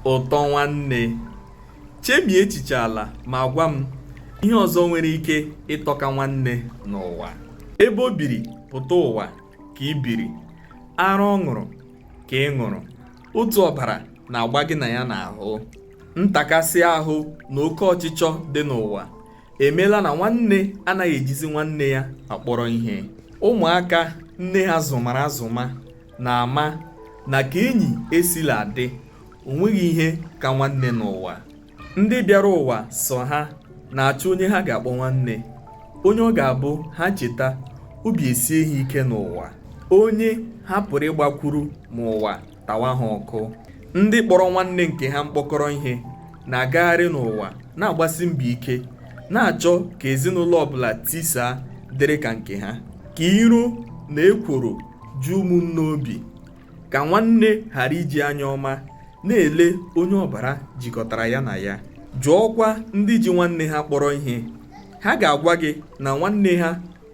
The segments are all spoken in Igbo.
ụtọ nwanne chemie echiche ala ma gwa m ihe ọzọ nwere ike ịtọka nwanne n'ụwa ebe o biri pụta ụwa ka i biri ara ọ ṅụrụ ka ị ṅụrụ otu ọbara na-agba gị na ya n'ahụ ntakasị ahụ na oke ọchịchọ dị n'ụwa emeela na nwanne anaghị ejizi nwanne ya akpọrọ ihe ụmụaka nne ha zụmara azụma na-ama na ka enyi esila dị o nweghị ihe ka nwanne n'ụwa ndị bịara ụwa sọ ha na-achọ onye ha ga-akpọ nwanne onye ọ ga-abụ ha cheta obi esie ha ike n'ụwa onye ha pụrụ ịgbakwuru ma ụwa tawa ha ọkụ ndị kpọrọ nwanne nke ha mkpọkọrọ ihe na-agagharị n'ụwa na-agbasi mbọ ike na-achọ ka ezinụlọ ọbụla tisaa dịrị ka nke ha ka iro na ekworo ju ụmụnne obi ka nwanne ghara iji anya ọma na-ele onye ọbara jikọtara ya na ya jụọkwa ndị ji nwanne ha kpọrọ ihe ha ga-agwa gị na nwanne ha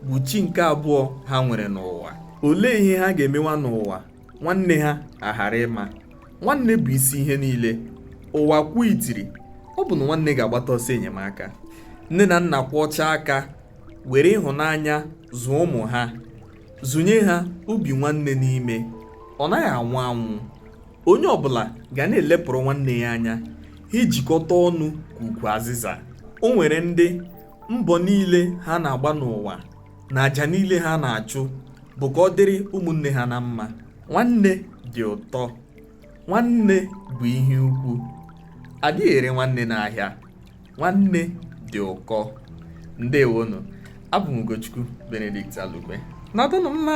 bụ chi nke abụọ ha nwere n'ụwa olee ihe ha ga-emewa n'ụwa nwanne ha aghara ịma nwanne bụ isi ihe niile ụwa kwuo itiri ọ bụ na nwanne ga-agbata ọsọ enyemaka nne na nna kwọchaa aka were ịhụnanya zụọ ụmụ ha zụnye ha obi nwanne n'ime ọ naghị anwụ anwụ onye ọbụla ga na-elepụrụ nwanne ya anya ha ejikọta ọnụ ka ukwu azịza o nwere ndị mbọ niile ha na-agba n'ụwa na aja niile ha na-achụ bụ ka ọ dịrị ụmụnne ha na mma nwanne dị ụtọ nwanne bụ ihe ukwu adịghị ere nwanne n'ahịa nwanne dị ụkọ ndewonu abụ m Ugochukwu Benedict Alukwe nọdụnụ mma